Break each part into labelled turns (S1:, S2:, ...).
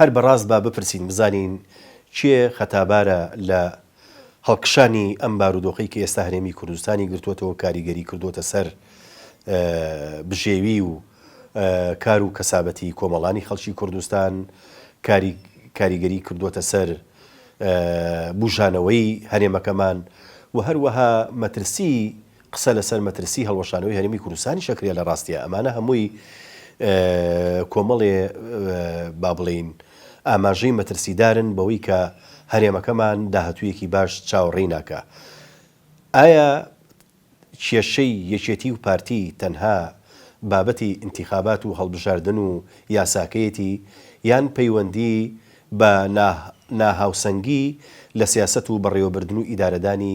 S1: هەر بەڕاست با بپرسین بزانین کێ خەتابارە لە هەڵکشانی ئەم بارودۆخەی کە ئێستا هەرێمی کوردستانی گرتۆتەوە کاریگەری کردۆتە سەر بژێوی و کار و کەسابەتی کۆمەڵانی خەڵکی کوردستان کاریگەری کردۆتە سەر بوژانەوەی هەرێمەکەمان و هەروەها مەترسی قسە لەسەر مەترسی هەڵوەشانەوەی هەرێمی کوردستانیش ئەکرێ لە ڕاستیا ئەمانە هەمووی کۆمەڵێ با بڵێین ئاماژەی مەترسیدارن بەوەی کە هەرێمەکەمان داهتوویەکی باش چاوەڕێی ناکا ئایا کێشەی یەکێتی و پارتی تەنها بابەتی ئینتیخابات و هەڵبژاردن و یاساکەیەتی یان پەیوەندی بە ناهاوسەنگی لە سیاسەت و بەڕێوەبردن و ئیدارەدانی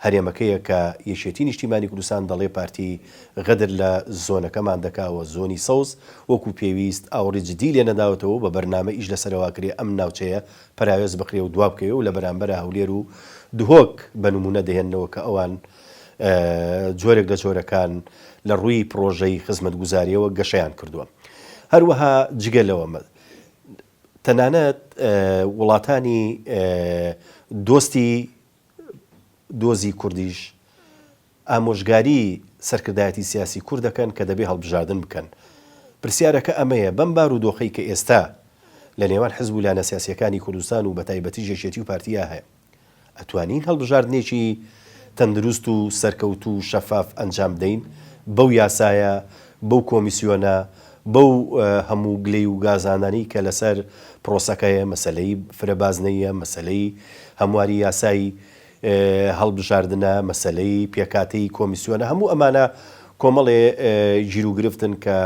S1: هەرێمەکەیە کە یەکێتی نیشتیمانی کوردستان دەڵێ پارتی غەدر لە زۆنەکەمان دەکا و زۆنی سەوز وەکو پێویست ئاوڕی جدی لێ نەداوەتەوە و بە بەرنامە ئیش لەسەرەوە کرێ ئەم ناوچەیە پەراوێز بخرێ و دوابکەوێ و لە بەرامبەرا هەولێر و دهۆک بە نمونە دەهێننەوە کە ئەوان جۆرێک لە جۆرەکان لە ڕووی پڕۆژەی خزمەتگوزاریەوە گەشەیان کردووە هەروەها جگە لەوە تەنانەت وڵاتانی دۆستی دۆزی کوردیش ئامۆژگاری سەرکردایەتی سیاسی کورد دەکەن کە دەبێ هەڵبژاردن بکەن. پرسیارەکە ئەمەیە، بەم بارودۆخەی کە ئێستا لە نێوان حزب و لایەنە سیاسییەکانی کوردستان و بەتایبەتیش یەکێتی و پارتییە هەیە، ئەتوانین هەڵبژاردنێکی تەندروست و سەرکەوتوو و شەفاف ئەنجام بدەین بەو یاسایە، بەو کۆمیسیۆنە، بەو هەموو گلەی و گازانەی کە لەسەر پرۆسەکەیە، مەسەلەی فرە بازنەییە، مەسەلەی هەمواری یاسای هەڵبژاردنە، مەسەلەی پێکهاتەی کۆمیسیۆنە، هەموو ئەمانە کۆمەڵێ گیروگرفتن کە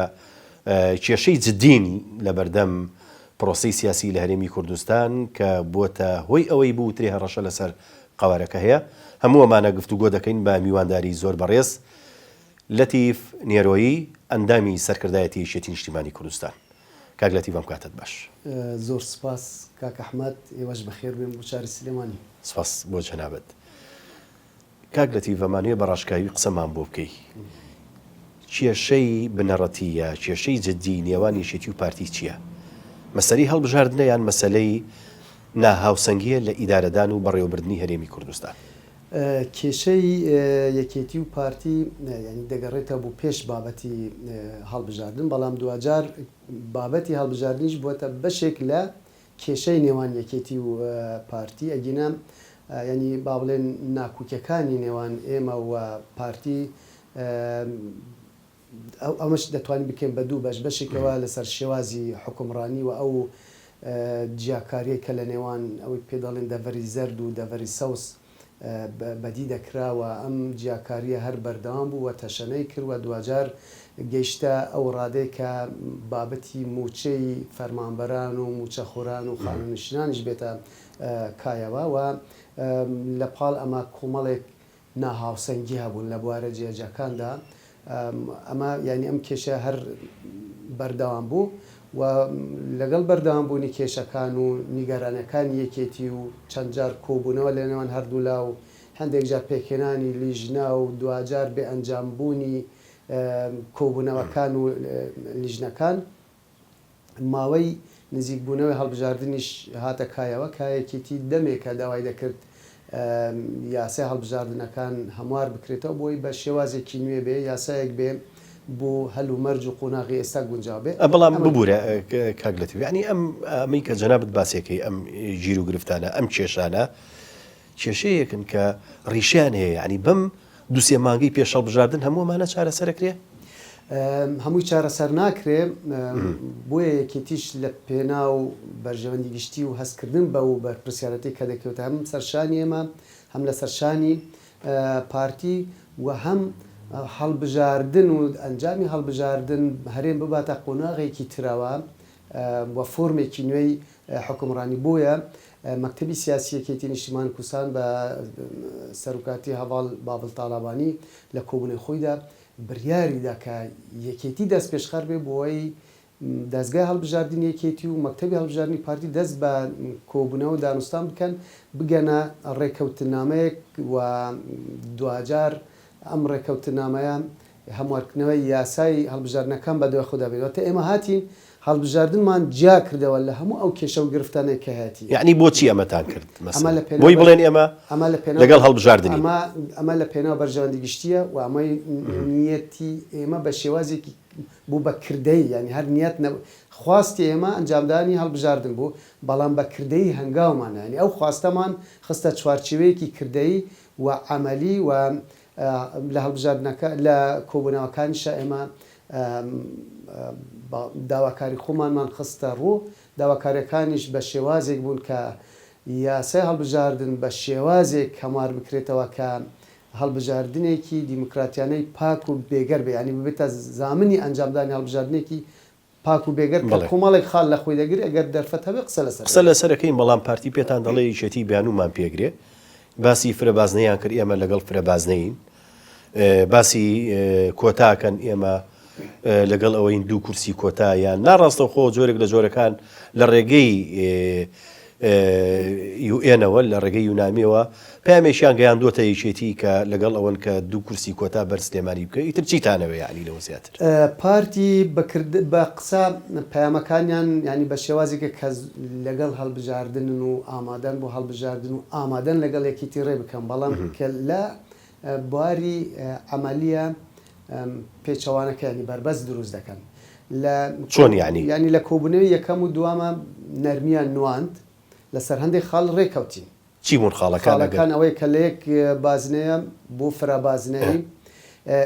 S1: کێشەی جددین لەبەردەم پرۆسەی سیاسی لە هەرێمی کوردستان کە بووەتە هۆی ئەوەی بووترێ هەڕەشە لەسەر قەوارەکە هەیە. هەموو ئەمانە گفتوگۆ دەکەین بە میوانداری زۆر بەڕێز لەتیف نێرۆیی ئەندامی سەرکردایەتی یەکێتی نیشتیمانی کوردستان. کاک لەتیف ئەم کاتەت باش. زۆر سوپاس
S2: کاک ئەحمەد، ئێوەش بەخێربێن بۆ شاری سلێمانی. سوپاس بۆ
S1: جەنابت. کاک لەتیف ئەمانوێ بە ڕاشکاوی قسەمان بۆ بکەی کێشەی بنەڕەتی یا کێشەی جدی نێوان یەکێتی و پارتی چیە؟ مەسەلەی هەڵبژاردنە یان مەسەلەی ناهاوسەنگیە لە ئیدارەدان و بەڕێوەبردنی هەرێمی کوردستان؟ کێشەی
S2: یەکێتی و پارتی یانی دەگەڕێتە بۆ پێش بابەتی هەڵبژاردن بەڵام دواجار بابەتی هەڵبژاردنیش بوەتە بەشێک لە کێشەی نێوان یەکێتی و پارتی ئەگینا یانی با بڵێن ناکوکیەکانی نێوان ئێمە و پارتی ئەو ئەمەش دەتوانین بکەین بە دوو بەش بەشێکەوە لەسەر شێوازی حکومڕانی و ئەو جیاکاریەی کە لە نێوان ئەوەی پێ دەڵێن دەڤەری زەرد و دەڤەری سەوز بەدی دەکرا و ئەم جیاکارییە هەر بەردەوام بوو و تەشەنەی کرد و دواجار گەیشتە ئەو ڕادەی کە بابەتی مووچەی فەرمانبەران و مووچەخۆران و خانوونشینانیش بێتە کایەوە و لەپاڵ ئەمە کۆمەڵێک ناهاوسەنگی هەبوون لە بوارە جیاجیاکاندا ئەمە یانی ئەم کێشە هەر بەردەوام بوو و لەگەڵ بەردەوام بوونی کێشەکان و نیگەرانیەکانی یەکێتی و چەند جار کۆبوونەوە لە نێوان هەردوولا و هەندێک جار پێکهێنانی لیژنە و دواجار بێ ئەنجام بوونی کۆبوونەوەکان و لیژنەکان ماوەی نزیکبوونەوەی هەڵبژاردنیش هاتە کایەوە، کە یەکێتی دەمێکە داوای دەکرد یاسای هەڵبژاردنەکان هەموار بکرێتەوە بۆی بە شێوازێکی نوێ بێ، یاسایەک بێ بۆ هەلومەرج و قۆناغی ئێستا گونجاو بێ. بەڵام ببورە
S1: کاک لەتیف، یەعنی ئەمەی کە جەنابت باسی ئەکەی، ئەم گیروگرفتانە، ئەم کێشانە، کێشەیەکن کە ڕیشەیان هەیە یانی بەم دوو سێ مانگەی پێش هەڵبژاردن هەموو ئەمانە چارەسەر ئەکرێ؟
S2: هەمووی چارەسەر ناکرێ بۆیە یەکێتیش لە پێناو بەرژەوەندی گشتی و هەستکردن بە و بەرپرسیارەتی کە دەکەوێتە هەم سەر شانی ئێمە هەم لەسەر شانی پارتی و هەم هەڵبژاردن و ئەنجامی هەڵبژاردن هەرێم بباتە قۆناغێکی ترەوە و فۆرمێکی نوێی حوکمڕانی بۆیە مەکتەبی سیاسی یەکێتی نیشتیمان کوردستان بە سەروکاتی هەڤاڵ باڤڵ تاڵابانی لە کۆبوونەوەی خۆیدا بریاری دا کە یەکێتی دەستپێشخەر بێ بۆی دەزگای هەڵبژاردنی یەکێتی و مەکتەبی هەڵبژاردنی پارتی دەست بە کۆبوونەوە دانوستان بکەن بگەنە ڕێکەوتنامەیەک و دواجار ئەم ڕێکەوتنامەیە هەموارکردنەوەی یاسای هەڵبژاردنەکان بە دوای خۆدا بێت، واتە ئێمە هاتین هەڵبژاردنمان جیا کردەوە لە هەموو ئەو کێشە و گرفتانەی کە هەیەتی. یەعنی بۆچی ئەمەتان
S1: کرد مەسەلەن؟ بۆی بڵێن ئێمە لەگەڵ هەڵبژاردن نین؟ ئەمە لە پێناو
S2: بەرژەوەندی گشتییە و ئەمەی نیەتی ئێمە بە شێوازێکی بوو بە کردەیی، یەعنی هەر نیەت نەبوو، خواستی ئێمە ئەنجامدانی هەڵبژاردن بوو، بەڵام بە کردەیی هەنگاومان نا، یەعنی ئەو خواستەمان خستە چوارچێوەیەکی کردەیی و عەمەلی و لە هەڵبژاردنەکە لە کۆبوونەوەکانیشا ئێمە داواکاری خۆمانمان خستە ڕوو، داواکاریەکانیش بە شێوازێک بوون کە یاسای هەڵبژاردن بە شێوازێک هەموار بکرێتەوە کە هەڵبژاردنێکی دیموکراتیانەی پاک و بێگەر بێ یانی ببێتە زامنی ئەنجامدانی هەڵبژاردنێکی پاک و بێگەرد کرد بەڵێ. کۆمەڵێک خاڵ لە خۆی دەگرێ گەر دەرفەت هەبێ قسە لەسەر قسە دەکەین. لەسەر ئەکەین بەڵام پارتی پێتان دەڵێ
S1: یەکێتی بیانومان پێگرێ باسی فرە بازنەیان کرد ئێمە لەگەڵ فرە بازنەین باسی کۆتا کەن ئێمە لەگەڵ ئەوەین دوو کورسی کۆتا یان نا ڕاستەوخۆ جۆرێک لە جۆرەکان لە ڕێگەی یو ئێنەوە لە ڕێگەی یونامیەوە پەیامێکیان گەیاندووەتە یەکێتی کە لەگەڵ ئەوەن کە دوو کورسی کۆتا بەر سلێمانی بکە ئیتر چیتانەوێ یانی لەوە زیاتر. پارتی
S2: بە قسە پەیامەکانیان یانی بە شێوازێکە کە لەگەڵ هەڵبژاردنن و ئامادەن بۆ هەڵبژاردن و ئامادەن لەگەڵ یەکێتی ڕێ بکەن بەڵام کە لە بواری عەمەلییە پێچەوانەکەیانی بەربەست دروست دەکەن لە
S1: یانی لە
S2: کۆبونەوی یەکەم و دوامە نەرمیان نواند لەسەر هەندێک خاڵ رێکەوتین. چی بوون خاڵەکان؟
S1: خاڵەکان ئەوەیە کە
S2: لەیەک بازنەیە بۆ فرە بازنەیی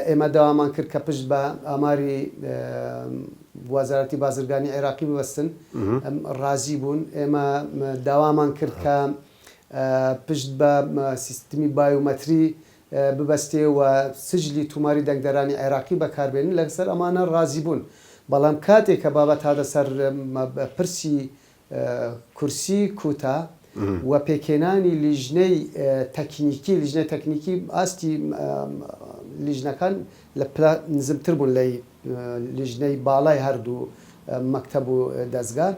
S2: ئێمە داوامان کرد کە پشت بە ئاماری وەزارەتی بازرگانی عێراقی ببەستن رازی بوون ئێمە داوامان کرد کە پشت بە سیستمی بایۆمەتری ببەستێ و سجلی توماری دەنگدەرانی عێراقی بەکاربێنن لەسەر ئەمانە رازی بوون بەڵام کاتێ کە بابەت هاتە سەر پرسی کورسی کوتا و پێکهێنانی لیژنەی تەکنیکی لیژنەی تەکنیکی ئاستی لیژنەکان لە پلە نزمتر بوون لە لیژنەی باڵای هەردوو مەکتەب و دەزگا.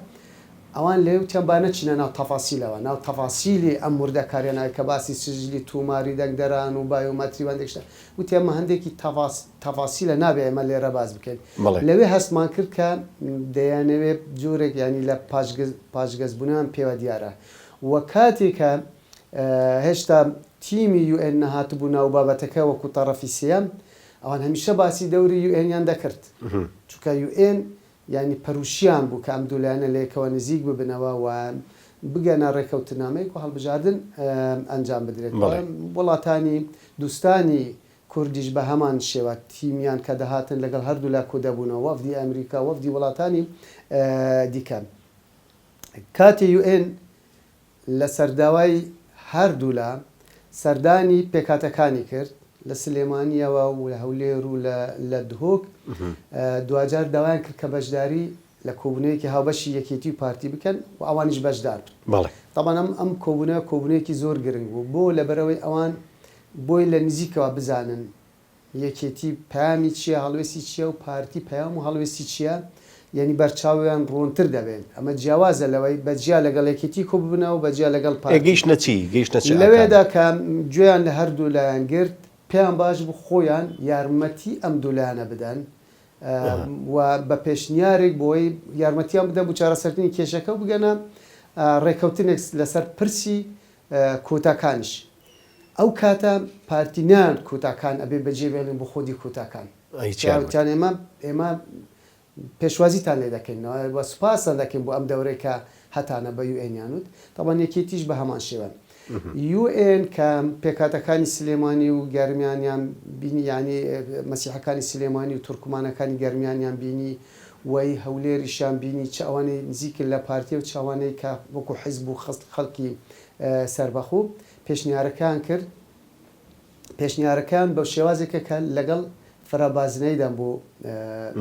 S2: ئەوان لەیوتیان با نەچینە ناو تەفاسیلەوە، ناو تەفاسیلی ئەم وردەکاریانە کە باسی سجلی توماری دەنگدەران و بایۆمەتری و هەندێک شتە، وتیان مە هەندێکی تەفاس تەفاسیلە نابێ ئێمە لێرە باس بکەین. بەڵێ. لەوێ هەستمان کرد کە دەیانەوێ جۆرێک یانی لە پاژگەز پاژگەز بونەوەیان پێوە دیارە و کاتێ کە هێشتا تیمی یو ئێن نەهاتبوو ناو بابەتەکە وەکو تەڕەفی سێیەم، ئەوان هەمیشە باسی دەوری یو ئێنیان دەکرد، چونکە یو ئێن یانی پەروشیان بوو کە ئەم دوو لایەنە لەیەکەوە نزیک ببنەوە و بگەنە رێکەوتنامەیەک و هەڵبژاردن ئەنجام بدرێت و وڵاتانی دوستانی کوردیش بە هەمان شێوە تیمیان کە دەهاتن لەگەڵ هەردوولا کودەبوونەوە وەفدی ئەمریکا وەفدی وڵاتانی دیکە کاتێ یوئێن لەسەرداوای هەردوولا سەردانی پێکهاتەکانی کرد لە سلێمانییەوە و لە هەولێر و لە دهۆک، دواجار داوایان کرد کە بەشداری لە کۆبوونەوەیەکی هاوبەشی یەکێتی و پارتی بکەن و ئەوانیش بەشدار بن. تابان ئەم کۆبوونەوە کۆبوونەوەیەکی زۆر گرنگ بوو بۆ لەبەرئەوەی ئەوان بۆی لە نزیکەوە بزانن یەکێتی پەیامی چیە هەڵوێستی چیە و پارتی پەیام و هەڵوێستی چیە یەنی بەرچاویان ڕوونتر دەبێت ئەمە جیاوازە لەوەی بە جیا لەگەڵ یەکێتی کۆببنەوە بە جیا لەگەڵ ئێ پارتی گەیشتنە چی گەیشتنە چ ئاکام لەوێدا کە گوێیان لە هەردوو لایان گرت پێیان باش بوو خۆیان یارمەتی ئەم دوو لایەنە بدەن ئەها. و بە پێشنیارێک بۆی یارمەتیان بدەن بۆ چارەسەرکردنی کێشەکە و بگەنە ڕێکەوتنێک لەسەر پرسی کۆتاکانیش. ئەو کاتە پارتی نایەت کوتاکان ئەبێ بەجێ بێڵین بۆ خودی کوتاکان پیاوتان ئێمە ئێمە پێشوازیتان لێ دەکەین وە سوپاستان دەکەین بۆ ئەم دەورەی کە هەتانە بە یو ئێنیان وت تاوان یەکێتیش بە هەمان شێوە یو ئێن کە پێکاتەکانی سلێمانی و گەرمیانیان بینی یعنی مەسیحەکانی سلێمانی و تورکمانەکانی گەرمیانیان بینی وەی هەولێریشیان بینی چ ئەوانەی نزیکن لە پارتیە و چاوانەی کە وەکو حیزب و خەست خەڵکی سەربەخۆ پێشنیارەکەیان کرد، پێشنیارەکەیان بە شێوازێکە کە لەگەڵ فرەبازنەییدان بۆ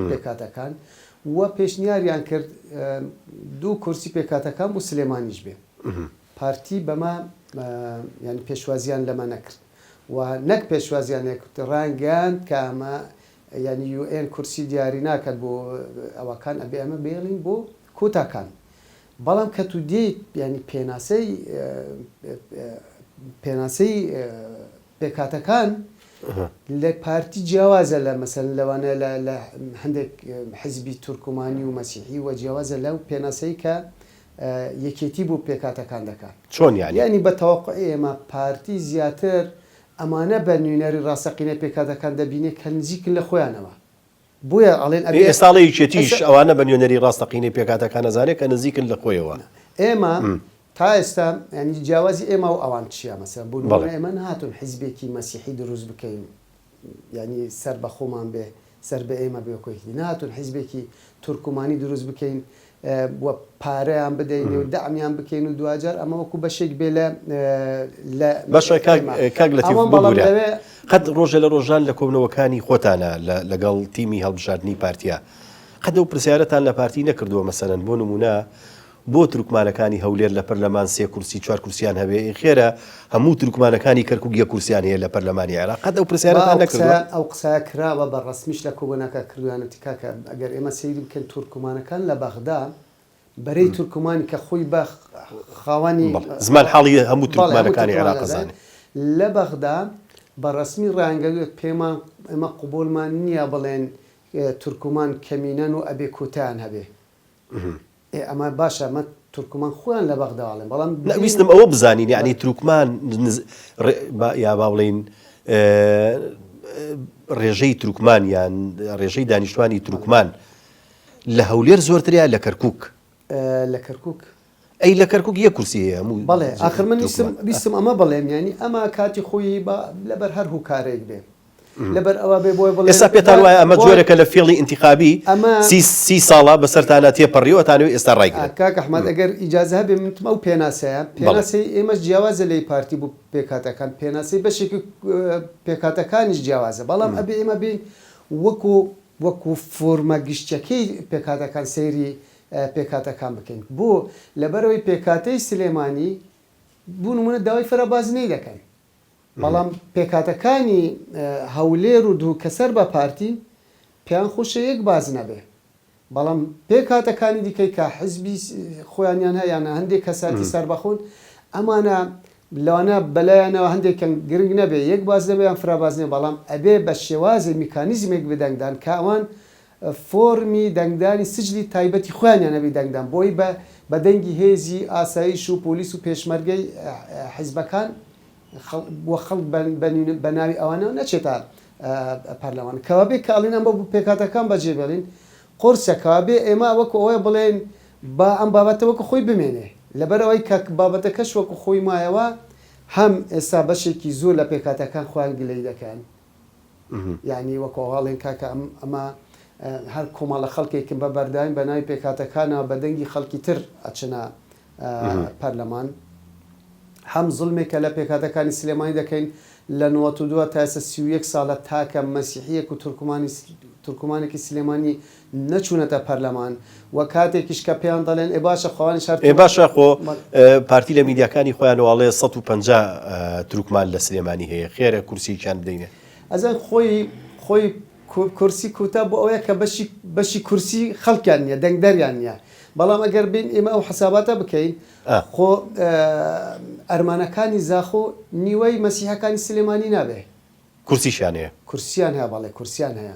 S2: پێکهاتەکان و پێشنیاریان کرد دوو کورسی پێکهاتەکان بۆ سلێمانیش بێ پارتی بەمە یانی پێشوازیان لەمە نەکرد و نەک پێشوازیان نەکرد ڕانگەیاند کە ئەمە یعنی یو ئێن کورسی دیاری ناکات بۆ ئەوەکان ئەبێ ئەمە بێڵین بۆ کۆتاکان بەڵام کە تو دێیت یانی پێناسەی پێناسەی پێکهاتەکان لە پارتی جیاوازە لە مەسەلەن لەوانە لە لە هەندێک حزبی تورکمانی و مەسیحی و جیاوازە لەو پێناسەی کە یەکێتی بۆ پێکهاتەکان دەکا. چۆن یانی؟ یانی بە
S1: تەوەقوعی
S2: ئێمە پارتی زیاتر ئەمانە بە نوینەری ڕاستەقینەی پێکهاتەکان دەبینێ کە نزیکن لە خۆیانەوە. بۆیە ئەڵێن ئەبێ. ئێستا ئەڵێ یەکێتیش
S1: ئەوانە بە نوێنەری ڕاستەقینەی پێکهاتەکان ئەزانێ کە نزیکن لە خۆیەوە. ئێمە
S2: تا ئێستا یانی جیاوازی ئێمە و ئەوان چییە؟ مەسەلەن بۆ نموونە ئێمە نەهاتوون حیزبێکی مەسیحی دروست بکەین یانی سەر بە خۆمان بێ، سەر بە ئێمە بێ وەکوو یەکێتی. نەهاتوون حیزبێکی تورکمانی دروست بکەین و پارەیان بدەین و دەعمیان بکەین و دواجار ئەمە وەکو بەشێک بێ لە لە
S1: باشە کاک کاک لەتیف ئەوان بەڵام ببورە لەوێ قەت ڕۆژێ لە ڕۆژان لە کۆبنەوەکانی خۆتانا لە لەگەڵ تیمی هەڵبژاردنی پارتیا قەت ئەو پرسیارەتان لە پارتی نەکردووە مەسەلەن بۆ نموونە بۆ تورکمانەکانی هەولێر لە پەرلەمان سێ کورسی چوار کورسیان هەبێ ئێ خێرە هەموو تورکمانەکانی کەرکوک یەک کورسیان هەیە لە پەرلەمانی عێراق قەت ئەو پرسیارەتان نەکردوە؟ با ئەو قسە ئەو قسە کراوە
S2: بە ڕەسمیش لە کۆبۆناکە کردویانەتی کاکە ئەگەر ئێمە سەیری بکەین تورکمانەکان لە بەغدا بەرەی تورکمانی کە خۆی بە خاوەنی بەڵێ زمان حاڵی هەموو
S1: بەڵێ هەموو تورکمانەکانی تورکمان عێراق ئەزانێ. ئەزانێ لە بەغدا
S2: بە ڕەسمی ڕایانگەردوە پێمان ئێمە قبوڵمان نیە بڵێن تورکمان کەمینەن و ئەبێ کۆتایان هەبێ. ئێ ئەمە باشە ئەمە تورکمان خۆیان لە بەغدا ئەڵێن بەڵام نا ببینە ویستم ئەوە بزانین
S1: یانی تروکمان نز ڕێ با یا با بڵێین ڕێژەی تروکمان یان ڕێژەی دانیشتوانی بەڵێ تروکمان لە هەولێر زۆرترە یا لە کەرکووک؟ ئە، لە
S2: کەرکووک ئەی لە کەرکووک
S1: یەک کورسی هەیە هەموو بەڵێ جێ ئاخر من
S2: ویستم تروکمان ویستم ئەمە بڵێم یانی ئەمە کاتی خۆیی با لەبەر هەر هۆکارێک بێ ئێستا پێتان وایە ئەمە جۆرێکە
S1: لە فێڵی ئینتیخابی سی ساڵە بەسەرتانا تێپەڕیوە ئەتانەوێ ئێستا ڕایگرن؟ کاک ئەحمەد ئەگەر
S2: ئیجازە هەبێ من ئەو پێناسەیە پێناسەی ئێمەش جیاوازە لەی پارتی بوو پێکهاتەکان پێناسەی بەشێکی پێکهاتەکانیش جیاوازە بەڵام ئەبێ ئێمە بێین وەکو وەکو فۆرمە گشتیەکەی پێکهاتەکان سەیری پێکهاتەکان بکەین بۆ لەبەرەوەی پێکهاتەی سلێمانی بوو نمونە داوای فرە بازنەی دەکەن بەڵام پێکهاتەکانی هەولێر و دوو کە سەر بە پارتی پێیان خوشە یەک بازنە بێ بەڵام پێک هاتەکانی دیکەی کە حزبی خۆیانیان هە یانە هەندێک کەساتی سەربەخۆن ئەمانە لەوانە بەلایەنەوە هەندێکیان گرنگ نەبێ یەک باز نەبێ یان فراباز نێ بەڵام ئەبێ بە شێوازی میکانیزمێک بدەنگدان کە ئەوان فۆرمی دەنگدانی سجلی تایبەتی خۆیانیان هەبی دەنگدان بۆی بە بە دەنگی هێزی ئاسایش و پۆلیس و پێشمەرگەی حیزبەکان و خەڵک بە ناوی ئەوانەوە نەچێتە پەرلەمان کەوابێ کە ئەڵێن ئەمە پێکهاتەکان بەجێ بێڵین قورسە کەوابێ ئێمە وەکو ئەوەیە بڵێن با ئەم بابەتە وەکو خۆی بمێنێ لەبەر ئەوەی کە بابەتەکەش وەکو خۆی مایەوە هەم ئێستا بەشێکی زۆر لە پێکهاتەکان خۆیان گلەی دەکەن. یانی وەکو ئاڵێن کاکە ئەمە هەر کۆمەڵە خەڵکێکن بە بەرداین بە ناوی پێکهاتەکانەوە بە دەنگی خەڵکی تر ئەچنە پەرلەمان هەم زوڵمێکە لە پێکهاتەکانی سلێمانی دەکەین لە نۆەتودووە تا ئێستا سی و یەک ساڵە تاکە مەسیحییەک و تورکمانی تورکمانێکی سلێمانی نەچوونەتە پەرلەمان و کاتێکیش کە پێیان دەڵێن ئێ باشە خۆانیش هەر ئێ باشە خۆ
S1: پارتی لە میدیاکانی خۆیانەوە ئەڵێ سەد و پەنجا تورکمان لە سلێمانی هەیە خێرە کورسیەکیان بدەینێ. ئەزان خۆی
S2: خۆی کورسی کوتا بۆ ئەوەیە کە بەشی بەشی کورسی خەڵکیان نییە دەنگدەریان نییە بەڵام ئەگەر بین ئێمە ئەو حساباتە بکەین خۆ ئەرمەنەکانی زاخۆ نیوەی مەسیحەکانی سلێمانی نابێ کورسیشیان
S1: هەیە. کورسیان هەیە بەڵێ
S2: کورسیان هەیە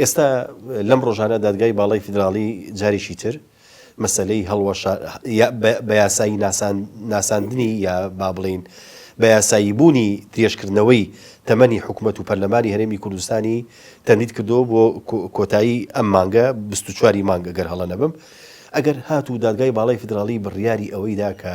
S1: ئێستا لەم ڕۆژانە دادگای باڵای فیدراڵی جارێکی تر مەسەلەی هەڵوەشا بە یاسایی ناساندنی یا با بڵین بە یاسایی بوونی درێژکردنەوەی تەمەنی حکوومەت و پەرلەمانی هەرێمی کوردستانی تەندید کردو بۆ کۆتایی ئەم مانگە 24 مانگە گەر هەڵە نەبم ئەگەر هات و دادگای باڵای فیدراڵی بڕیاری ئەوەیدا کە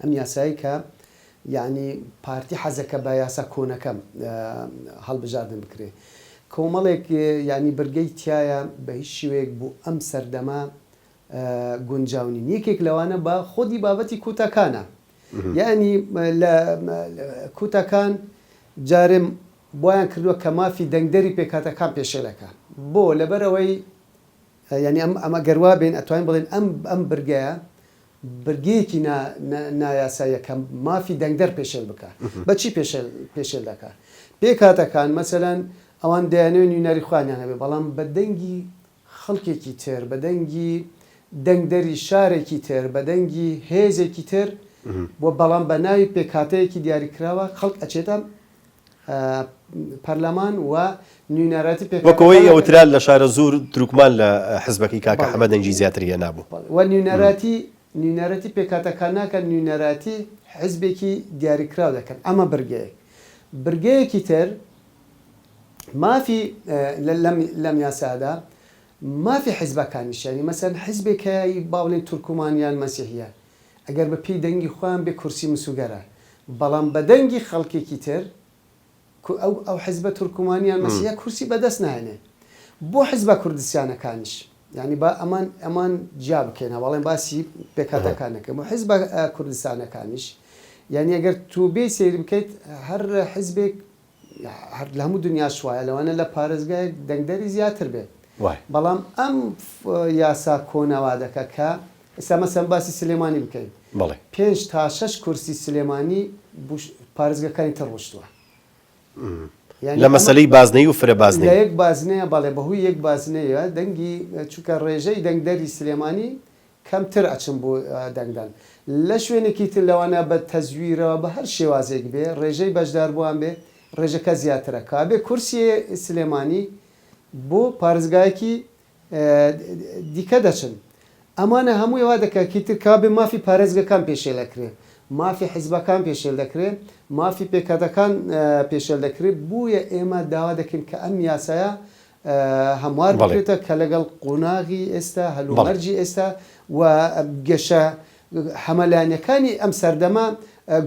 S2: ئەم یاسایەی کە یەعنی پارتی حەزەکە بە یاسا کۆنەکە هەڵبژاردن بکرێ کۆمەڵێک یەعنی برگەی تیایە بە هیچ شوێک بۆ ئەم سەردەمە گونجاو نین یەکێک لەوانە بە خۆدی بابەتی کوتەکانە یەعنی لە کوتەکان جارم بۆیان کردووە کە مافی دەنگدەری پێکاتەکان پێشێلەکە بۆ لەبەرەوەی یەعنی ئەم ئەمە گەروا بێن ئەتوانین بڵێن ئەم ئەم برگەیە بەرگەیەکی نا نایاساییە کە مافی دەنگدەر پێشێل بکا. بە چی پێشێل پێشێل دەکا؟ پێکهاتەکان مەسەلەن ئەوان دەیانەوێ نوینەری خۆیانیان هەبێ بەڵام بە دەنگی خەڵکێکی تر، بە دەنگی دەنگدەری شارێکی تر، بە دەنگی هێزێکی تر و بەڵام بە ناوی پێکهاتەیەکی دیاریکراوە خەڵک ئەچێتە پەرلەمان و نوینەرایەتی پێکهاتەکان وەک ئەوەی وترا
S1: لە شارەزوور دروکمان لە حزبەکەی کاکە حەمە دەنگی زیاتر هێنابوو. و نوینەرایەتی
S2: نوینەرایەتی پێکهاتەکان ناکەن نوینەرایەتی حزبێکی دیاریکراو دەکەن ئەمە برگەیەک برگەیەکی تر مافی لەم لەم یاسادا مافی حزبەکانیشە یانی مەسەن حزبێک هەیە ی با بڵێن تورکمان یان مەسیحیە ئەگەر بە پێی دەنگی خۆیان بێ کورسی مسوگەرە بەڵام بە دەنگی خەڵکێکی تر کو ئەو ئەو حزبە تورکمانیان مەسیحە کورسی بە دەست ناهێنێ بۆ حزبە کوردستیانەکانیش یانی با ئەمان ئەمان جیا بکەین هەواڵێن باسی پێکاتەکان نەکەین بۆ حزبە کوردستانەکانیش یانی ئەگەر توو بێی سەیر بکەیت هەر حزبێک هەر لە هەموو دنیاش وایە لەوانە لە پارێزگایەک دەنگدەری زیاتر بێت وایە. بەڵام ئەم یاسا کۆنە وا دەکا کە ئێستا مەسەن باسی سلێمانی بکەین بەڵێ. پێنج تا شەش کورسی سلێمانی بوو پارێزگەکانی تر ڕۆشتوە.
S1: یانی لە ئەمە مەسەلەی بازنەیی و فرە بازنەیی. لە یەک بازنەیە بەڵێ
S2: بە هۆی یەک بازنەیە دەنگی چونکە ڕێژەی دەنگدەری سلێمانی کەمتر ئەچن بۆ دەنگدان لە شوێنێکی تر لەوانەیە بە تەزویرەوە بە هەر شێوازێک بێ ڕێژەی بەشداربووان بێ ڕێژەکە زیاترە کابێ کورسیێ سلێمانی بۆ پارێزگایەکی دیکە دەچن ئەمانە هەمووی وا دەکا کی تر کابێ مافی پارێزگەکان پێشێل ئەکرێ مافی حیزبەکان پێشێل دەکرێ مافی پێکهەتەکان پێشێل دەکرێ بویە ئێمە داوا دەکەین کە ئەم یاسایە هەموار بکرێتە کە لەگەڵ قۆناغی ئێستا، هەلومەرجی ئێستا و گەشە هەمەلایەنەکانی ئەم سەردەمە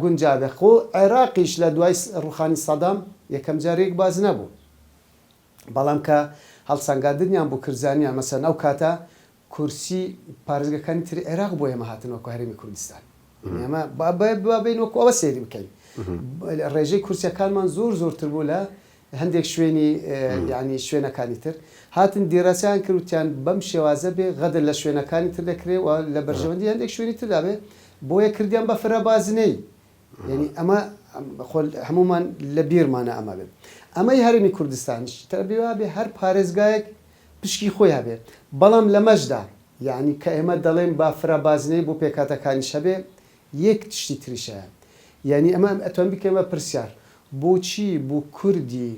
S2: گونجا بێت. خۆ عێراقیش لە دوای ڕووخانی سەدام یەکەم جار یەک باز نەبوو، بەڵام کە هەڵسەنگاندنیان بۆ کرد زانیان مەسەلەن ئەو کاتە کورسی پارێزگاکانی تری عێراق بۆ ئێمە هاتن وەکو هەرێمی کوردستان ئێمە با با بین وەکو ئەوە سەیری بکەین ڕێژەی کورسیەکانمان زۆر زۆرتر بوو لە هەندێک شوێنی یعنی شوێنەکانی تر هاتن دیراسەیان کردوتیان بەم شێوازە بێ غەدر لە شوێنەکانی تر دەکرێ و لە بەرژەوەندی هەندێک شوێنی تردابێ بۆیە کردیان بە فرە بازنەی یانی ئەمە خۆ هەموومان لە بیرمانە ئەمە بێ ئەمەی هەرێمی کوردستانیش تەبیواێ هەر پارێزگایەک پشکی خۆی هەبێ بەڵام لەمەشدا یانی کە ئێمە دەڵێن با فرە بازنەی بۆ پێکاتەکانیش هەبێ یەک تشتی تریشەیە یانی ئەمە ئەتوان بکەین بە پرسیار بۆچی بۆ کوردی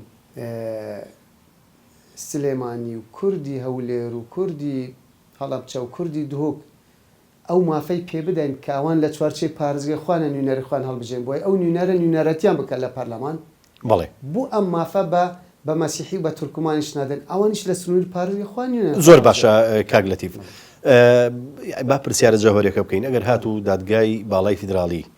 S2: سلێمانی و کوردی هەولێر و کوردی هەڵەبچە و کوردی دهۆک ئەو مافەی پێ بدەین کە ئەوان لە چوارچێوی پارێزگای خۆیانە نوینەری خۆیان هەڵبژێرن بۆیە ئەو نوینەرە نوینەرەتیان بکات لە پەرلەمان بەڵێ. بۆ
S1: ئەم مافە بە
S2: بە مەسیحی و بە تورکمانیش نادەن ئەوانیش لە سنوری پارێزگای خۆیان نوینەر زۆر باشە هەڵبژێرن.
S1: کاک لەتیف با پرسیارە جەوهەریەکە بکەین ئەگەر هاتوو دادگای باڵای فیدراڵی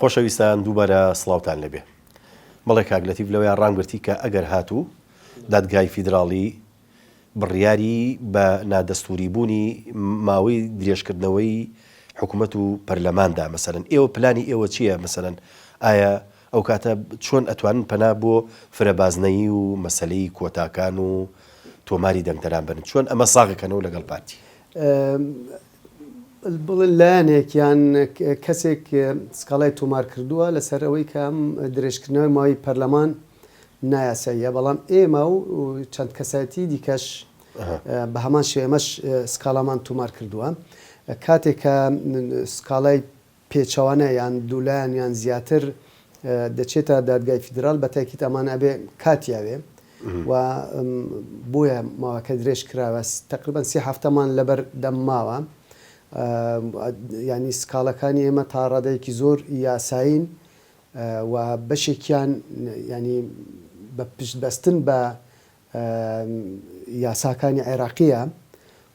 S1: خۆشەویستان دووبارە سڵاوتان لێبێ. بەڵێ کاک لەتیف لەوەیان ڕامگرتی کە ئەگەر هاتوو دادگای فیدراڵی بڕیاری بە نادەستووری بوونی ماوەی درێژ کردنەوەی حکومەت و پەرلەمان دا مەسەلەن ئێوە پلانی ئێوە چییە مەسەلەن ئایا ئەو کاتە چۆن ئەتوانن پەنا بۆ فرە بازنەیی و مەسەلەی کۆتاکان و تۆماری دەنگدەران بەرن چۆن ئەمە ساغ کەنەوە لەگەڵ پارتی؟
S2: بڵێن لایەنێک یان کەسێک سکاڵای تۆمار کردووە لەسەر ئەوەی کە ئەم درێژکردنەوەی ماوەی پەرلەمان نایاساییە، بەڵام ئێمە و چەند کەسایەتیی دیکەش بە هەمان شێوە ئێمەش سکاڵامان تۆمار کردووە. کاتێک کە سکاڵای پێچەوانە یان دوولایەن یان زیاتر دەچێتە دادگای فیدرال بەتاکید ئەمان ئەبێ کاتی ئەوێ و بۆیە ماوەکە درێژ کراوە تقریبا سێ هەفتەمان لەبەر دەم ماوە یانی سکاڵەکانی ئێمە تا ڕادەیەکی زۆر یاسایین و بەشێکیان ینی بە پشت بەستن بە یاساکانی عێراقیە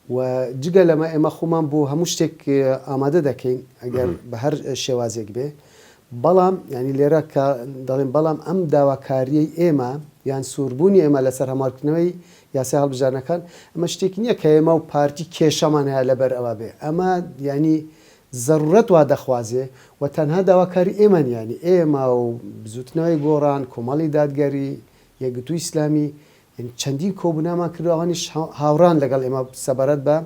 S2: و جگە لەمە ئێمە خۆمان بۆ هەموو شتێک ئامادە دەکەین ئەگەر بە هەر شێوازێک بێ بەڵام یعنی لێرە کە دەڵێن بەڵام ئەم داواکاریەی ئێمە یان سووربوونی ئێمە لەسەر هەموارکردنەوەی یاسای هەڵبژارنەکان ئەمە شتێک نییە کە ئێمە و پارتی کێشەمان هەیە لەبەر ئەوە بێ ئەمە ینی زەرورەت وا دەخوازێ و تەنها داواکاری ئێمەن ینی ئێمە و بزوتنەوەی گۆڕان کۆمەڵی دادگەری یەکگرتووی ئیسلامی چەندین کۆبوونەوەمان کردووە، ئەوانیش هاوڕان لەگەڵ ئێمە سەبارەت بە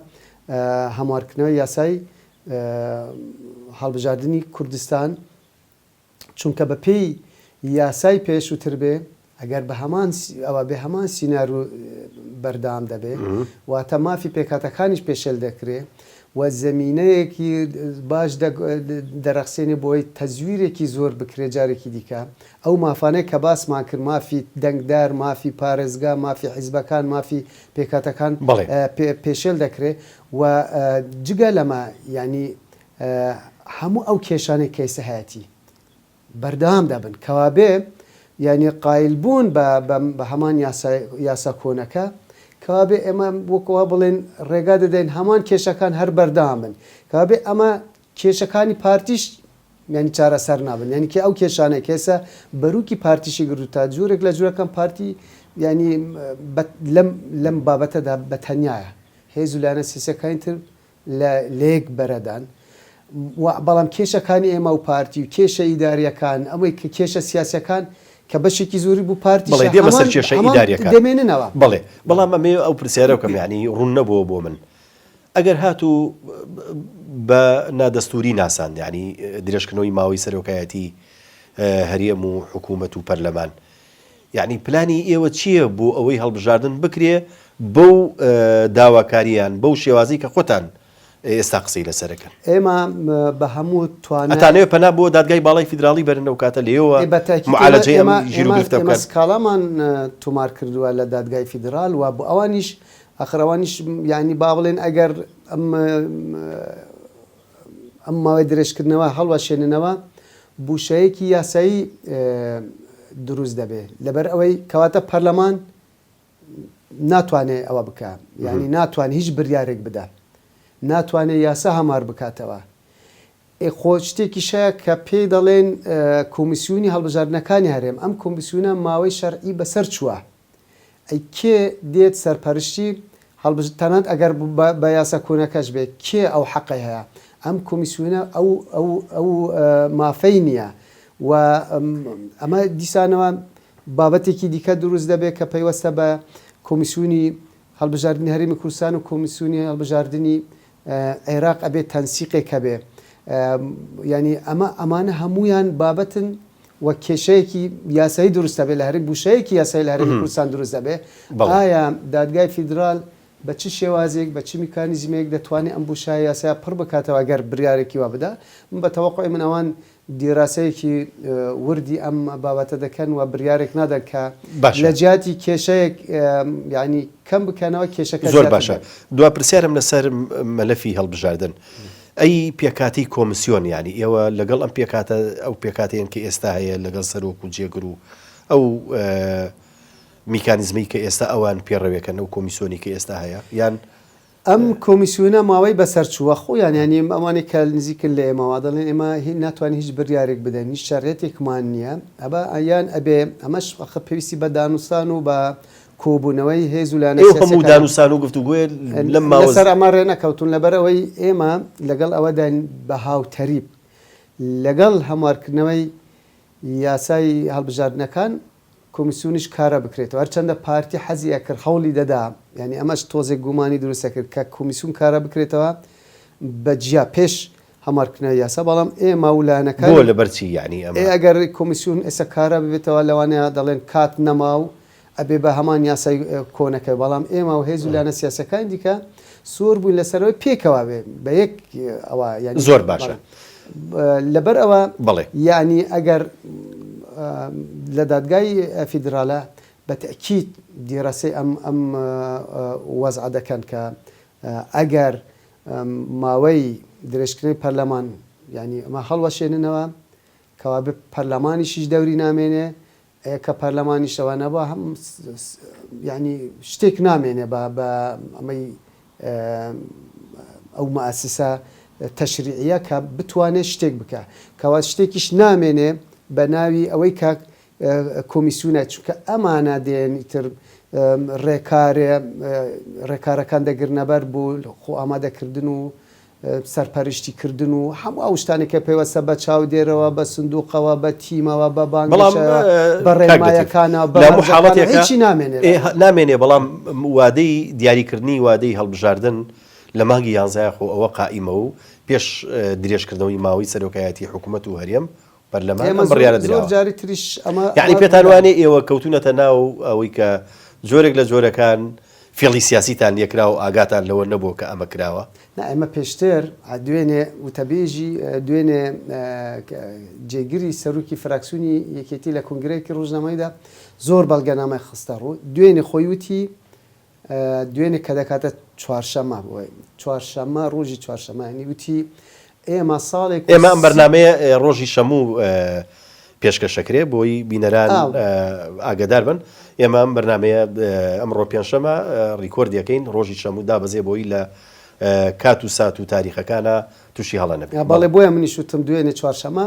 S2: هەموارکردنەوەی یاسای هەڵبژاردنی کوردستان، چونکە بە پێی یاسای پێشووتر بێ ئەگەر بە هەمان ئەوە بێ هەمان سینارو بەردەوام دەبێ، واتە مافی پێکهاتەکانیش پێشێل دەکرێ و زەمینەیەکی باش دەرەخسێنێ بۆی تەزویرێکی زۆر بکرێ جارێکی دیکە ئەو مافانەی کە باسمان کرد، مافی دەنگدەر، مافی پارێزگا، مافی حیزبەکان، مافی پێکهاتەکان بەڵێ. پێشێل دەکرێت و جگە لەمە یانی هەموو ئەو کێشانەی کە ئێستا هەیەتی بەردەوام دەبن کەوابێ یانی قایلبوون بە بە هەمان یاسای یاسا کۆنەکە کەوابێ ئێمە وەک وا بڵێن ڕێگا دەدەین هەمان کێشەکان هەر بەردەوام بن کەوابێ ئەمە کێشەکانی پارتیش یانی چارەسەر نابن یانی کە ئەو کێشانەی کە ئێستا بەروکی پارتیشی گرتوتە جۆرێک لە جۆرەکان پارتی یانی لەم لەم بابەتەدا بە تەنیایە هێز و لایەنە سیاسەکانی تر لە لەیەک بەرەدان بەڵام کێشەکانی ئێمە و پارتی و کێشە ئیداریەکان ئەمەی کە کێشە سیاسەکان کە بەشێکی زۆری بوو پارتی بڵێ دێ بەسەر کێشە
S1: ئیداریەکان دەمێننەوە بڵێ
S2: بەڵام ئەمێ
S1: ئەو پرسیارە بکەم یانی ڕوون نەبووە بۆ من ئەگەر هاتوو بە نادەستووری ناساند یانی درێژکردنەوەی ماوەی سەرۆکایەتی هەرێم و حکوومەت و پەرلەمان یانی پلانی ئێوە چییە بۆ ئەوەی هەڵبژاردن بکرێ بەو داواکاریان بەو شێوازی کە خۆتان ئێستا قسەی لەسەرەکەن ئێمە
S2: بە هەموو توانەتانێ پەنا بۆ
S1: دادگای باڵای فیدراڵی بەرن و کاتە لێەوە معالەجە ئێمە ژیر گرفتەکەس کاڵامان
S2: تۆمار کردووە لە دادگای فیدرال و بۆ ئەوانیش ئاخر ئەوانیش یانی با بڵێن ئەگەر ئەم ئەم ماوەی درێژکردنەوە هەڵوەشێننەوە بوشەیەکی یاسایی دروست دەبێ لەبەر ئەوەی کەواتە پەرلەمان ناتوانێت ئەوە بکە یعنی ناتوان هیچ بریارێک بدە ناتوانێت یاسا هەمار بکاتەوە خۆ شتێکی شەیە کە پێی دەڵێن کۆمیسیونی هەڵبژاردنەکانی هەرێم ئەم کۆمیسیونە ماوەی شەرعی بەسەر چووە ئەی کێ دێت سەرپەرشتی هەڵبژ تەنانەت ئەگەر بە یاسا کۆنەکەش بێ کێ ئەو حەقەی هەیە ئەم کۆمیسیونە ئەو ئەو ئەو مافەی نییە و ئەمە دیسانەوە بابەتێکی دیکە دروست دەبێت کە پەیوەستە بە کۆمیسیونی هەڵبژاردنی هەرێمی کوردستان و کۆمیسیونی هەڵبژاردنی عێراق ئەبێ تەنسیقێک هەبێ یانی ئەمە ئەمانە هەموویان بابەتن و کێشەیەکی یاسایی دروست دەبێت لە هەرێم بوشەیەکی یاسایی لە هەرێمی کوردستان دروست دەبێت ئایا دادگای فیدرال بە چ شێوازێک بە چ میکانیزمێک دەتوانێت ئەم بوشایە یاسا پڕ بکاتەوە گەر بریارێکی وا بدا من بە تەوەقعی من ئەوان دیراسەیەکی وردی ئەم بابەتە دەکەن و بریارێک نادەن کە لە جیاتی کێشەیەک یانی کەم بکەنەوە کێشەکە زۆر باشە دوا
S1: پرسیارم لەسەر مەلەفی هەڵبژاردن ئەی پێکاتی کۆمسیۆن یانی ئێوە لەگەڵ ئەم پێکاتە ئەو پێکاتێن کە ئێستا هەیە لەگەڵ سەرۆک و جێگر و ئەو میکانیزمی کە ئێستا ئەوان پێڕەوێکەن ئەو کۆمیسۆنی کە ئێستا هەیە یان ئەم
S2: کۆمیسیۆنە ماوەی بەسەرچووە خۆیان یانی ئەوانەی کە نزیکن لە ئێمە وا دەڵێن ئێمە ناتوانین هیچ بڕیارێک بدەین هیچ شەرعیەتێکمان نییە ئەبا یان ئەبێ ئەمەش ئەخە پێویستی بە دانوستان و بە کۆبوونەوەی هێز و لایەنە سیاسیەکان ئێوە هەموو دانوستان و
S1: گفتوگۆیە لەم ماوە لەسەر ئەمە ڕێ
S2: نەکەوتوون لەبەر ئەوەی ئێمە لەگەڵ ئەوەداین بە هاوتەریب لەگەڵ هەموارکردنەوەی یاسای هەڵبژاردنەکان کۆمیسیۆنیش کارا بکرێتەوە هەرچەندە پارتی حەزی ئەکرد هەوڵی دەدا یانی ئەمەش تۆزێک گومانی دروست ئەکرد کە کۆمیسیۆن کارا بکرێتەوە بە جیا پێش هەمارکردنەوەی یاسا بەڵام ئێمە و لایەنەکانی بۆ لەبەر چی یانی
S1: ئەمە؟ ئێ ئەگەر کۆمیسیۆن
S2: ئێستا کارا ببێتەوە لەوانەیە دەڵێن کات نەما و ئەبێ بە هەمان یاسای کۆنەکە بەڵام ئێمە و هێز و لایەنە سیاسیەکانی دیکە زۆر بووین لەسەر ئەوەی پێکەوە بێ بە یەک ئەوە یانی. زۆر باشە
S1: لەبەر
S2: ئەوە یانی
S1: ئەگەر
S2: لە دادگای فیدرالە بە تەئکید دیراسەی ئەم ئەم وەزعە دەکەن کە ئەگەر ماوەی درێژکرنەی پەرلەمان یانی ئەمە هەڵوەشێننەوە کەوابێ پەرلەمانیشیش دەوری نامێنێ کە پەرلەمانیش ئەوە نەبا هەم یانی شتێک نامێنێ بە بە ئەمەی ئەو مەئەسیسە تەشریعە کە بتوانێت شتێک بکە کەوا شتێکیش نامێنێ بە ناوی ئەوەی کە کۆمیسیونە چونکە ئەمانە دێن ئیتر ڕێکارێ ڕێکارەکان دەگرنەبەر بۆ خۆ ئامادەکردن و سەرپەرشتی کردن و هەموو ئەو شتانەی کە پەیوەستە بە چاودێرەوە، بە سندووقەوە، بە تیمەوە، بە بەڵام بانگەشە، بە کاک لەتیف ڕێنمایەکانە، بە لە هەموو مەرجەکانە، حاڵەتێکا هیچی نامێنێ ئێ لەگەڵ. نامێنێ
S1: بەڵام وادەی دیاریکردنی وادەی هەڵبژاردن لە مانگی یانزە یاخۆ ئەوە قائیمە و پێش درێژکردنەوەی ماوەی سەرۆکایەتی حکوومەت و هەرێم پەرلەمان ئەم بڕیارە دراوە. زۆر جاری تریش
S2: ئەمە یانی پێتان وانێ ئێوە
S1: کەوتونەتە ناو ئەوەی کە جۆرێک لە جۆرەکان فێڵی سیاسیتان لێ کرا و ئاگاتان لەوە نەبووە کە ئەمە کراوە؟ نا ئێمە پێشتر
S2: دوێنێ وتەبێژی دوێنێ جێگری سەرۆکی فراکسیونی یەکێتی لە کۆنگرەیەکی ڕۆژنامەییدا زۆر بەڵگەنامەی خستە ڕوو، دوێنێ خۆی وتی، دوێنێ کە دەکاتە چوارشەمە بۆی چوارشەمە ڕۆژی چوارشەمە ینی وتی ئێمە ساڵێک ئێمە ئەم بەرنمەیە
S1: ڕۆژی شەموو پێشکەشەکرێ بۆی بینەران ئاگدار بن ئێمە ئەم بەرنمەیە ئەمڕۆ پێنجشەمە ڕیکۆرد دەکەین ڕۆژی شەموو دابەزێ بۆی لە کات و سات و تاریخەکانە تووشی هەڵە نەبێت بەڵێ بۆیە منی شوتم
S2: دوێنێ چوارشەمە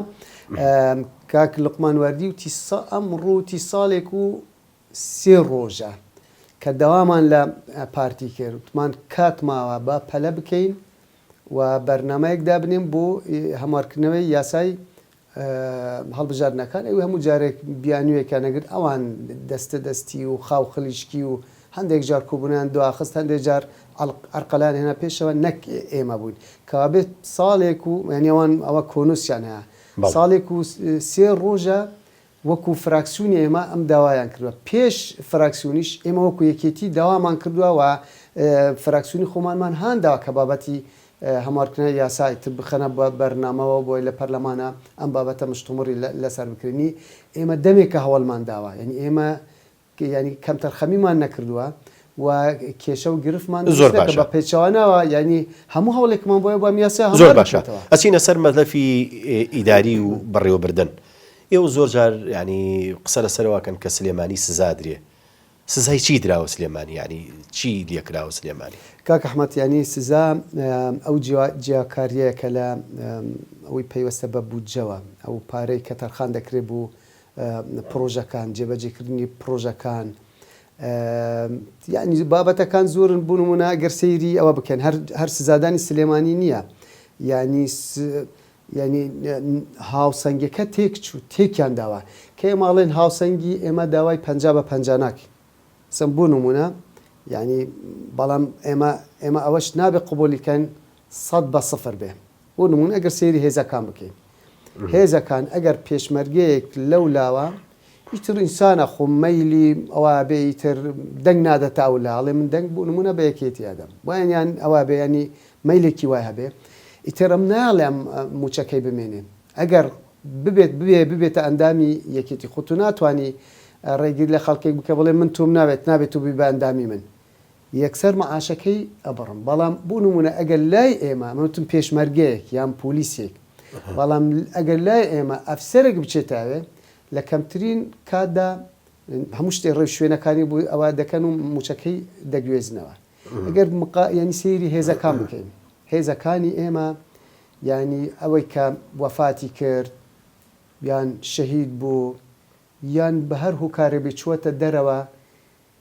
S2: کاک لقمان وەردی و تیسا ئەم ڕووتی ساڵێک و سێ ڕۆژە کە داوامان لە پارتی کرد وتمان کات ماوە با پەلە بکەین و بەرنامەیەک دابنێن بۆ هەموارکردنەوەی یاسای هەڵبژاردنەکان ئەوی هەموو جارێک بیانوویەکیان نەگرت ئەوان دەستە دەستی و خاو خلیشکی و هەندێک جار کۆبوونیان دواخست هەندێک جار ئەرقەلان هێنا پێشەوە نەک ئێمە بووین کەوابێت ساڵێک و یانیەوان ئەوە کۆنووسیان هەیە ساڵێک و سێ ڕۆژە وەکو فراکسیونی ئێمە ئەم داوایان کردوە پێش فراکسیونیش ئێمە وەکو یەکێتی داوامان کردوە و فراکسیونی خۆمانمان هانداوە کە بابەتی هەموارکردنەوەی یاسای تب بخەنە بەرنامەوە بۆ لە پەرلەمانا ئەم بابەتە مشتومڕی لەسەر بکرێنی ئێمە دەمێکە هەوڵمان داوە یانی ئێمە یانی کەمتەرخەمیمان نەکردوە و کێشە و گرفتمان دروست نەکردوە بە پێچەوانەوە یانی هەموو هەوڵێکمان بۆیە بۆ ئەم یاسایە هەموار بکەین. زۆر باشە ئەچینە
S1: سەر مەلەفی ئیداری و بەڕێوەبردن. ئێوە زۆر جار یانی قسە لەسەرەوە ئەکەن کە سلێمانی سزا ئەدرێ. سزای چی دراوە سلێمانی یانی چی لێکراوە سلێمانی؟ کاک ئەحمەد یانی
S2: سزا ئەو جیاکاریەیە کە لە ئەوەی پەیوەستە بە بودجەوە ئەو پارەی کە تەرخان دەکرێ بۆ پڕۆژەکان، جێبەجێکردنی پڕۆژەکان، یانی بابەتەکان زۆرن، بۆ نموونە ئەگەر سەیری ئەوە بکەن هەر هەر سزادانی سلێمانی نییە، یانی یانی هاوسەنگەکە تێکچوو تێکیان داوە، کە ئێمە ئەڵێن هاوسەنگی ئێمە داوای پەنجا بە پەنجا ناکەین، سم بۆ نموونە یانی بەڵام ئێمە ئێمە ئەوەش نابێ قبووڵی کەن سەد بە سفر بێ، بۆ نموونە ئەگەر سەیری هێزەکان بکەین هێزەکان ئەگەر پێشمەرگەیەک لەو لاوە ئیتر ئینسانە خۆ مەیلی ئەوە بێ ئیتر دەنگ نادەتە ئەو لا ئەڵێ من دەنگ بۆ نمونە بە یەکێتی ئەدەم وایان یان ئەوە بێ ینی مەیلێکی وای هەبێ ئیتر ئەم ناڵێ ئەم موچەکەی بمێنێ ئەگەر ببێت ببێ ببێتە ئەندامی یەکێتی خۆ تو ناتانی ڕێگیر لە خەڵکێک بکە بڵێ من تۆم ناوێت نابێت و بی بە ئەندامی من یەکسەر معاشەکەی ئەبڕم بەڵام بو نمونە ئەگەر لای ئێمە من وتم پێشمەرگەیەک یان پولیسێک بەڵام ئەگەر لای ئێمە ئەفسەرێک بچێتاێ لە کەمترین کاتدا هەموو شتێ ڕێ شوێنەکانی بو ئەوە دەکەن و موچەکەی دەگوێزنەوە ئەگەر مقا یانی سەیری هێزەکان بکەین هێزەکانی ئێمە یانی ئەوەی کە وەفاتی کرد یان شەهید بو یان بە هەر هوکارێبی چوەتە دەرەوە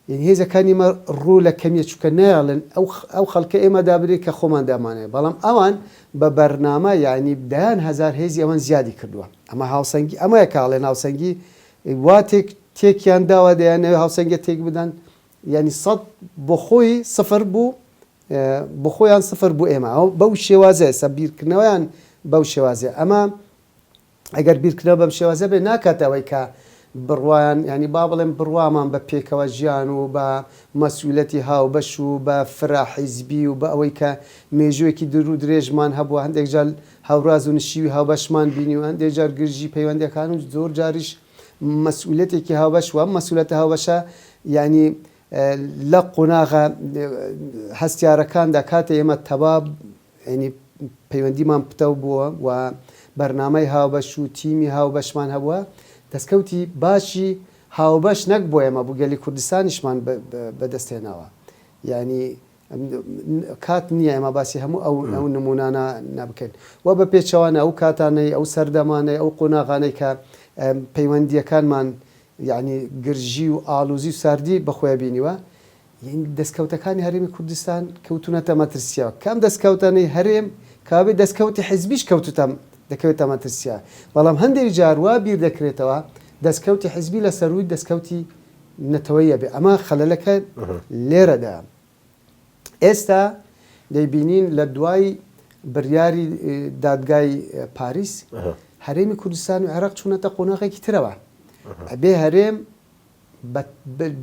S2: یەنی هێزە کانی مە ڕو لە کەمیە چونکە نایەڵن ئە وخەڵکە ئێمە دابنێن کە خۆمان دامانەوێت بەڵام ئەوان بە بە رنامە یانی دەیان هەزار هێزی ئەوان زیادی کردوە ئەمە هاوسەنگی ئەمەیە کە ئەڵێن هاوسەنگی وا تێک تێکیان داوە دەیانەوێت هاوسەنگە تێک بدەن یانی سەد بۆ خۆی سفر بو بۆ خۆیان سفر بو ئێمە ئەو بەو شێوازە ئێستا بیرکردنەوەیان بەو شێوازە ئەمە ئەگەر بیرکردنەوە بەم شێوازە بێت ناکاتە ئەوەی کە بڕوایان یانی با بڵێم بڕوامان بە پێکەوە ژیان و بە مەسئولەتی هاوبەش و بە فرە حیزبی و بە ئەوەی کە مێژووێکی دور و درێژمان هەبووە هەندێک جار هاوراز و نشیوی هاوبەشمان بینی و هەندێک جار گرژی پەیوەندەکان و زۆر جاریش مەسئولەتێکی هاوبەش و مەسئولەتە هاوبەشە یانی لە قۆناغە هەستیارەکاندا کاتێ ئێمە تەبا یانی پەیوەندیمان پتەو بووە و بەرنامەی هاوبەش و تیمی هاوبەشمان هەبووە، دەستکەوتی باشی هاوبەش نەک بۆ ئێمە بۆ گەلی کوردستانیشمان بەدەست هێناوە، یانی کات نییە ئێمە باسی هەموو ئەو نموونانە نەبکەین و بە پێچەوانە ئەو کاتانەی ئەو سەردەمانەی ئەو قۆناغانەی کە پەیوەندییەکانمان یانی گرژی و ئاڵوزی و ساردی بەخۆیە بینیوە دەستکەوتەکانی هەرێمی کوردستان کەوتونەتە مەترسییەوە، کە ئەم دەستکەوتانەی هەرێم کەوابێت دەستکەوتی حزبیش کەوتوتە دەکەوێتە مەترسییەوە، بەڵام هەندێک جار وا بیر دەکرێتەوە دەستکەوتی حزبی لە سەرووی دەستکەوتی نەتەوەیی ئەبێت، ئەمە خەلەلەکە لێرەدایە. ئێستا دەیبینین لە دوای بریاری دادگای پاریس هەرێمی کوردستان و عێراق چونەتە قۆناغێکی ترەوە، ئەبێ هەرێم،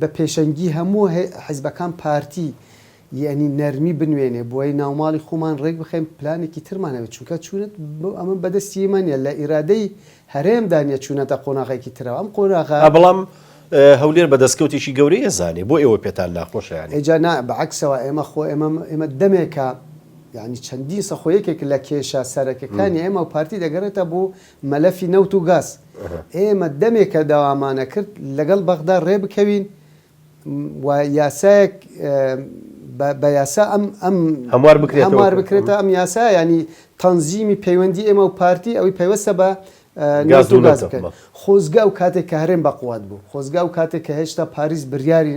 S2: بە پێشەنگی هەموو حزبەکان پارتی یەنی نەرمی بنوێنێ بۆیە ناوماڵی خۆمان ڕێک بخەین پلانێکی ترمان هەبێت چونکە چونت ئەمە بەدەستی ئێمە نیە لە ئیرادەی هەرێمدا نیە چونەتە قۆناغێکی ترەوە ئەم قۆناغە بەڵام
S1: هەولێر بە دەستکەوتێکی گەورەی ئەزانێ بۆ ئێوە پێتان ناخۆشە یانی؟ ئێجا نا بە عەکسەوە
S2: ئێمە خۆ ئێمە ئێمە دەمێکە یانی چەندین سە خۆ یەکێک لە کێشە سەرەکەکانی ئێمە و پارتی دەگەرێتە بۆ مەلەفی نەوت و گاز، ئێمە دەمێکە داوامانەکرد لەگەڵ بەغدا رێبکەوین و یاسایەک بە یاسا ئەم ئەم هەموار
S1: بکرێتەوە، هەموار بکرێتە
S2: ئەم یاسا یانی تەنزیمی پەیوەندی ئێمە و پارتی ئەوی پەیوەستە بە گاز و نەوت بکەن، خۆزگە ئەو کاتێک کە هەرێم بە قوات بوو، خۆزگە ئەو کاتێک کە هێشتا پاریس بریاری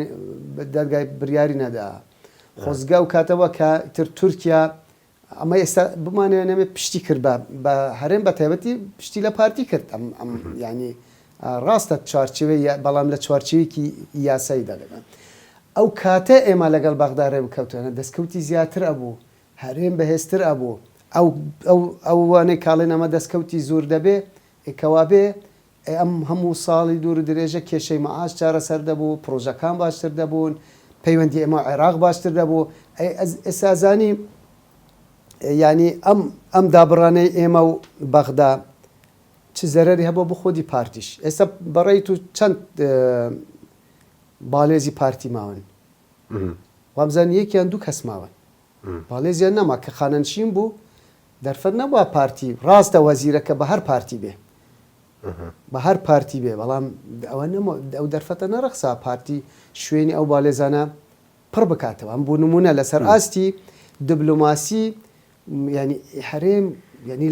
S2: دەرگای بریاری نەداا، خۆزگە ئەو کاتەوە کە تر تورکیا ئەمە ئێستا بمانەوێ یان نەمێ پشتی کرد بە بە هەرێم بە تایبەتی پشتی لە پارتی کرد ئەم ئەم یعنی ئا، ڕاستە چوارچێوەی یا- بەڵام لە چوارچێوێکی یاسایی دەڵێم من ئەو کاتە ئێمە لەگەڵ بەغدا ڕێ بکەوتوێنە دەستکەوتی زیاتر ئەبوو هەرێم بەهێزتر ئەبوو ئەو ئەو ئەوانەی کاڵێن ئەمە دەستکەوتی زۆر دەبێ ئێ کەوابێ ئەی ئەم هەموو ساڵی دوورودرێژە کێشەی مەعاش چارەسەر دەبوو، پڕۆژەکان باشتر دەبوون، پەیوەندی ئێمە و عێراق باشتر دەبوو، ئەی ئێستا زانی یانی ئەم ئەم دابڕانەی ئێمە و بەغدا چ زەرەری هەبوو بۆ خودی پارتیش، ئێستا بە ڕێی تۆ چەند باڵێزی پارتی ماون؟ وابزانم یەک یان دوو کەس ماون. مالیزیا نەما کە خانەنشین بوو دەرفەت نەبوە پارتی ڕاستە وەزیرەکە بە هەر پارتی بێ بە هەر پارتی بێ بەڵام ئەوە نەما ئەو دەرفەتە نەڕەخسا پارتی شوێنی ئەو بالێزانە پڕ بکاتەوە ئەم بوو نمونە لەسەر ئاستی دبلۆماسی ینی هەرێم ینی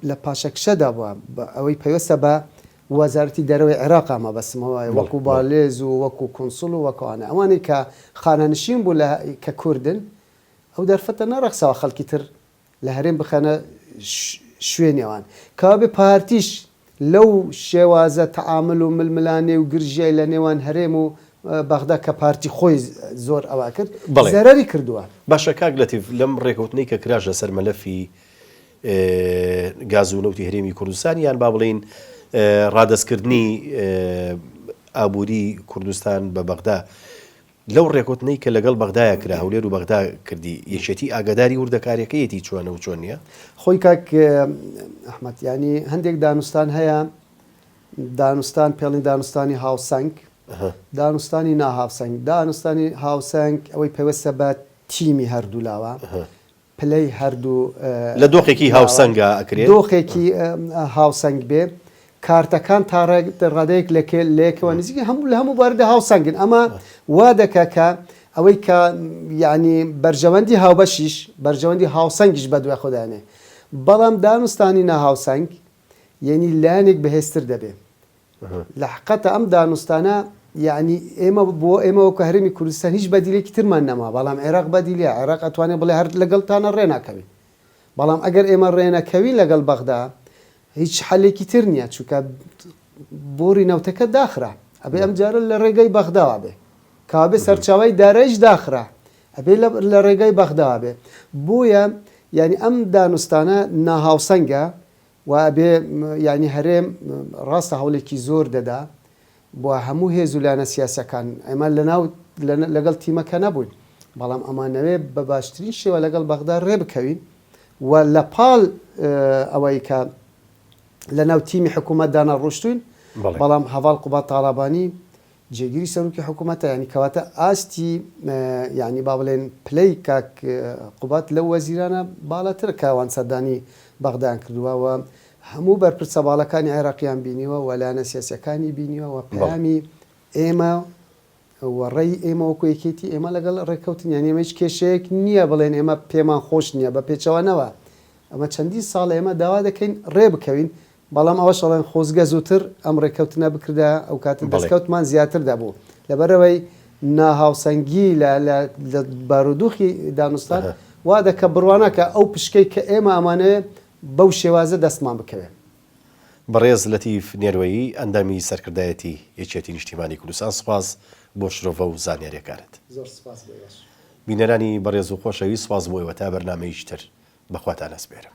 S2: لە پاشەکشەدا بووە ئەوەی پەیوەستە بە وەزارەتی دەرەوەی عێراقە مەبەستمە وەکو بالێز و وەکو کونسڵ و وەکو ئەوانە ئەوانەی کە خانەنشین بوو لە کە کوردن ئەو دەرفەتە نەڕەخساوە خەڵکی تر لە هەرێم بخەنە شوێنی ئەوان کەوابێ پارتیش لەو شێوازە تەعامل و ململانێ و گرژیای لە نێوان هەرێم و بەغدا کە پارتی خۆی زۆر ئەوا کرد زەرەری کردووە. باشە کاک لەتیف
S1: لەم ڕێکەوتنەی کە کراش لەسەر مەلەفی گاز و نەوتی هەرێمی کوردستان یان با بڵێین ڕادەستکردنی ئابووری کوردستان بە بەغدا لەو ڕێکوتنەی کە لەگەڵ بەغدایە کرا هەولێر و بەغدا کردی یەکێتی ئاگاداری وردەکاریەکەیەتی چۆنە و چۆن نیە؟ خۆی کاک
S2: ئەحمەد یانی هەندێک دانوستان هەیە دانوستان پێڵین دانوستانی هاوسەنگ دانوستانی ناهاوسەنگ دانوستانی هاوسەنگ ئەوەی پەیوەستە بە تیمی هەردوولاوە پلەی هەردوو لە دۆخێکی
S1: هاوسەنگا ئەکرێ. دۆخێکی
S2: هاوسەنگ بێ کارتەکان تا ڕادەیەک لەیەکەوە نزیکن هەموو لە هەموو بواردا هاوسەنگن ئەمە وا دەکا کە ئەوەی کە یەعنی بەرژەوەندی هاوبەشیش بەرژەوەندی هاوسەنگیش بەدوای خۆدا ئەنێ بەڵام دانوستانی ناهاوسەنگ یەنی لایەنێک بەهێزتر دەبێ لەحقتە ئەم دانوستانە یەعنی ئێمە بۆ ئێمە وەکو هەرێمی کوردستان هیچ بەدیلێکی ترمان نەما بەڵام عێراق بەدیلە عێراق ئەتوانێ بڵێ هەر لەگەڵتانە ڕێناکەوین بەڵام ئەگەر ئێمە ڕێنەکەوین لەگەڵ بەغدا هیچ حەلێکی تر نییە چونکە بۆری نەوتەکە داخرا ئەبێ ئەم جارە لە ڕێگەی بەغداوا بێ کابێ سەرچاوی دارایش داخرا ئەبێ لە ڕێگای بەغداوا بێ بۆیە یعنی ئەم دانوستانە ناهاوسەنگە وا ئەبێ یانی هەرێم ڕاستە هەوڵێکی زۆر دەدا بۆ هەموو هێز و لایەنە سیاسیەکان ئێمە لەناو لەگەڵ تیمەکە نەبووین بەڵام ئەمانەوێ بە باشترین شێوە لەگەڵ بەغدا ڕێ بکەوین و لە پاڵ ئەوەی کە لەناو تیمی حکوومەتدانا ڕۆشتوین بەڵام هەواڵ قوبات تاڵابانی جێگری سەروکی حکومەتە یانی کەواتە ئاستی یانی با بڵێن پلەی کاک قوباد لەو وەزیرانە باڵاترە کە ئەوان سەردانی بەغدایان کردوە و هەموو بەرپرسە باڵەکانی عێراقیان بینیوە و لایەنە سیاسیەکانی بینیوە و پەیامی ئێمە و ڕێی ئێمە وەکو یەکێتی ئێمە لەگەڵ ڕێکەوتن یانی ئێمە هیچ کێشەیەک نییە بڵێن ئێمە پێمان خۆش نییە بە پێچەوانەوە ئەمە چەندین ساڵە ئێمە داوا دەکەین ڕێ بکەوین بەڵام ئەوەش ئەڵێن خۆزگە زووتر ئەم ڕێککەوتنە بکردایە، ئەو کاتە بەڵێ. دەستکەوتمان زیاتر دەبوو. لەبەرئەوەی ناهاوسەنگی لە لە لە بارودوخی دانوستان ئەها. وا دەکا بڕواناکا ئەو پشکەی کە ئێمە ئەمانەوێ بەو شێوازە دەستمان بکەوێ. بەڕێز
S1: لەتیف نێروەیی، ئەندامی سەرکردایەتی یەکێتی نیشتیمانی کوردستان سپاس بۆ شرۆڤە و زانیاریەکانت. زۆر سپاس بۆ
S2: ئێوەش.
S1: بینەرانی بەڕێز و خۆشەویست سپاس بۆ ئێوە تا بەرنامەیەکی تر بەخواتان ئەسپێرم.